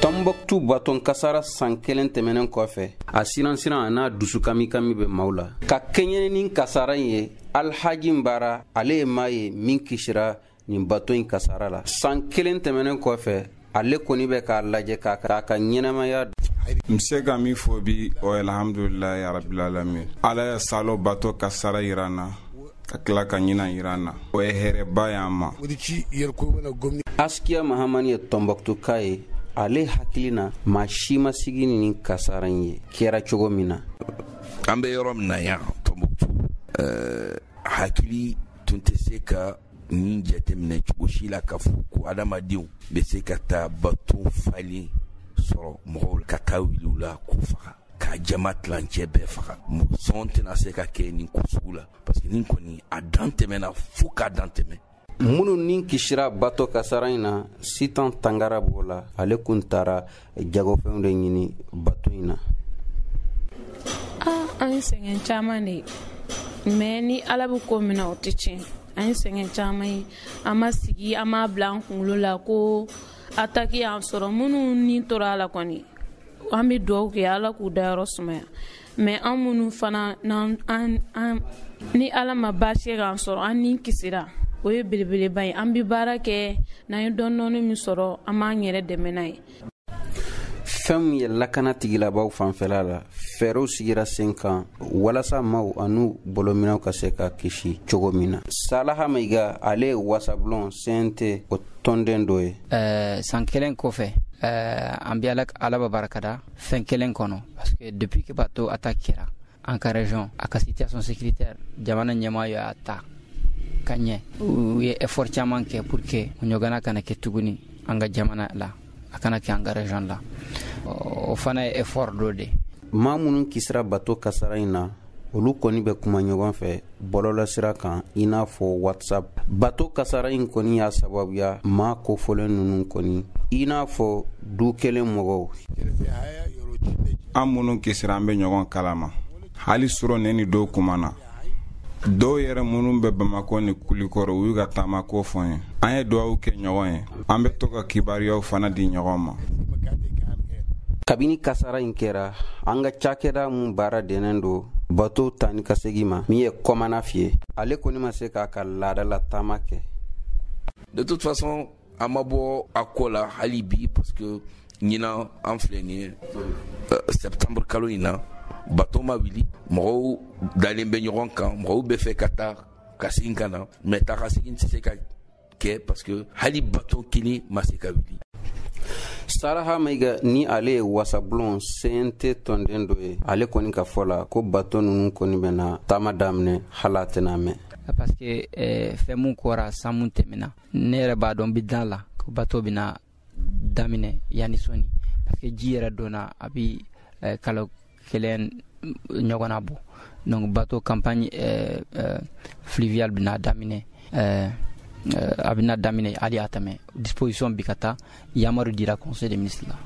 Tombouctou baton kasara san kelen tɛmɛnen kɔfɛ a siransiran a n'a dusu kamikami bɛ maaw la ka kɛɲɛ ni kasara in ye alhaji bara ale ye maa ye min kisira nin bato in kasara la san kelen tɛmɛnen kɔfɛ ale kɔni bɛ k'a lajɛ k'a ka ɲɛnamaya n se ka min fɔ bi o alhamdulilayi arabilalamin ala ye salon bato kasara yira n na ka tila ka ɲinan yira n na o ye hɛrɛba y'an ma askiya mahamani ye tɔnbɔkutuka ye ale hakili na maa si ma sigi ni kasara in ye kɛra cogo min na an bɛ yɔrɔ min na yan tɔnbɔkutu hakili tun tɛ se ka nin jateminɛ cogo si la k'a fɔ ko adamadenw bɛ se ka taa bato falen sɔrɔ mɔgɔw ka taa wuli u la k'u faga ka jama tilancɛ bɛɛ faga mɔgɔ sɔn tɛna se ka kɛ nin ko sugu la parce que nin kɔni a dan tɛmɛna fo k'a dan tɛmɛ minnu ni kisira bato kasara in na sitan tangara b'o la ale kun taara jagofɛnw de ɲini bato in na an ye sɛgɛn caman de ye mais ni ala bɛ ko min na o tɛ tiɲɛ an ye sɛgɛn caman ye an ma sigi an m'a bila an kunkolo la ko ataki y'an sɔrɔ minnu ni tora a la kɔni an bɛ dugawu kɛ ala k'u dayɔrɔ sumaya mais an minnu fana ni ala ma baasi k'an sɔrɔ an ni kisira o ye belebeleba ye an bɛ baara kɛ n'an ye dɔɔni min sɔrɔ an b'an yɛrɛ dɛmɛ n'a ye fɛn min ye lakana tigilamaaw fanfɛla la fɛɛrɛw sigira sen kan walasa maaw an'u bolominɛnw ka se ka kisi cogo min na salaha maiga ale ye wasabulon CNT o tɔnden dɔ ye san kelen kɔfɛ an bɛ ala barika da fɛn kelen kɔnɔ parce que depuis que bato attaque kɛra an ka région a ka situation sécuritaire jamana ɲɛmaa y'a ta ka ɲɛ u ye effort caman kɛ pour que o ɲɔgɔnna kana kɛ tuguni an ka jamana la a kana kɛ an ka région la o fana ye effort dɔ de maa minnu kisira bato kasara in na olu kɔni bɛ kuma ɲɔgɔn fɛ bɔlɔlɔsira kan i n'a fɔ whatsapp bato kasara in kɔni y'a sababuya maa kofɔlen ninnu kɔni i n'a fɔ du kelen mɔgɔw an minnu kisira an bɛ ɲɔgɔn kalama hali surɔ ne ni dɔw kumana dɔw yɛrɛ minnu bɛ bamakɔ ni kulikɔrɔ u y'u ka taamako fɔ n ye an ye duwawu kɛ ɲɔgɔn ye an bɛ to ka kibaruyaw fana di ɲɔgɔn ma kabini kasara in kɛra an ka cakɛda mun baara dɛnnen don bato taa ni ka segi ma min ye kɔmanafi ye ale kɔni ma se k'a ka laadala taama kɛ de toute façon a ma bɔ a ko la hali bi parce que ɲinan an filɛ nin ye euh, septembre kalo in na bato ma wuli mɔgɔw dalen bɛ ɲɔgɔn kan mɔgɔw bɛ fɛ ka taa ka segin ka na mais taa ka segin tɛ se ka kɛ parce que hali bato kelen ma se ka wuli salaha maiga ni ale ye wasabulon cnt tɔnden dɔ ye ale kɔni ka fɔ la ko bato nunu kɔni bɛna taama daminɛ hal'a tɛna mɛn parce que eh, fɛn mun kɛra san mun tɛmɛna ne yɛrɛ b'a dɔn bi da la ko bato bɛna daminɛ yanni sɔɔni parce que ji yɛrɛ donna a bi eh, kalo kelen ɲɔgɔnna bɔ donc bato campagne eh, eh, fluviale bɛna daminɛ eh, eh, a bɛna daminɛ hali a tɛ mɛn disposition bi ka ta yamaru dira conseil des ministres la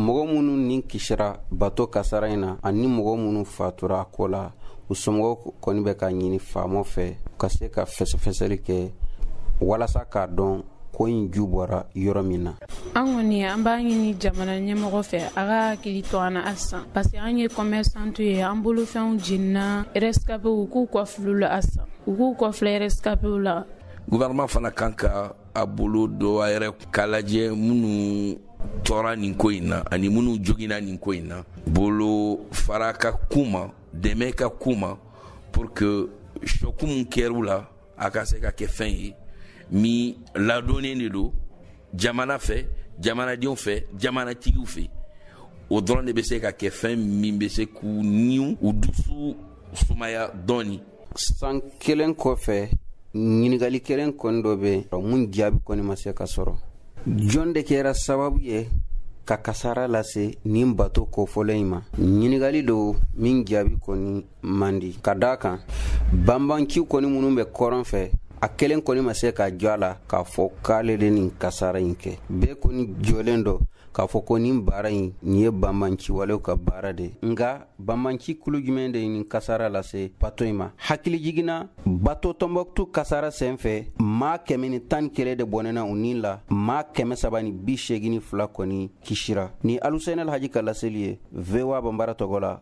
mɔgɔ minnu ni kisira bato kasara in na ani mɔgɔ minnu fatura a ko la u somɔgɔw kɔni bɛ ka ɲini faamaw fɛ u ka se ka fɛsɛfɛsɛli kɛ walasa k'a dɔn ko in ju bɔra yɔrɔ min na an kɔni an b'a ɲini jamana ɲɛmɔgɔ fɛ a ka hakili to an na halisa parce que an ye commerçantw ye an bolofɛnw jenina rescapéw u k'u kɔfilɛ u la halisa u k'u kɔfilɛ rescapéw la gouvernement fana kan ka a bolo don a yɛrɛ k'a lajɛ minnu tɔɔra nin ko in na ani minnu jogina nin ko in na bolofara ka k'u ma dɛmɛ ka k'u ma pour que choc min kɛr'u la a ka se ka kɛ fɛn ye min ladɔnnen de don jamana fɛ jamanadenw fɛ jamanatigiw fɛ o dɔrɔn de bɛ se ka kɛ fɛn min bɛ se k'u ni u dusu sumaya dɔɔni san kelen kɔfɛ ɲininkali kelen kɔni dɔ bɛ yen mun jaabi kɔni ma se ka sɔrɔ jɔn de kɛra sababu ye ka kasara lase nin bato kofɔlen in ma ɲininkali don min jaabi kɔni ma di ka da a kan banbanciw kɔni minnu bɛ kɔrɔn fɛ a kelen kɔni ma se ka jɔ a la k'a fɔ k'ale de nin kasara in kɛ bɛɛ kɔni jɔlen don k'a fɔ ko nin baara in nin ye banbanciwalew ka baara de ye nka banbanci kulu jumɛn de ye nin kasara lase bato in ma hakilijigin na bato tɔnbɔkutu kasara sen fɛ maa kɛmɛ ni tan ni kelen de bɔnɛna u ni la maa kɛmɛ saba ni bi seegin ni fila kɔni kisira ni aluseni alhaji ka laseli ye voa banbara tɔgɔ la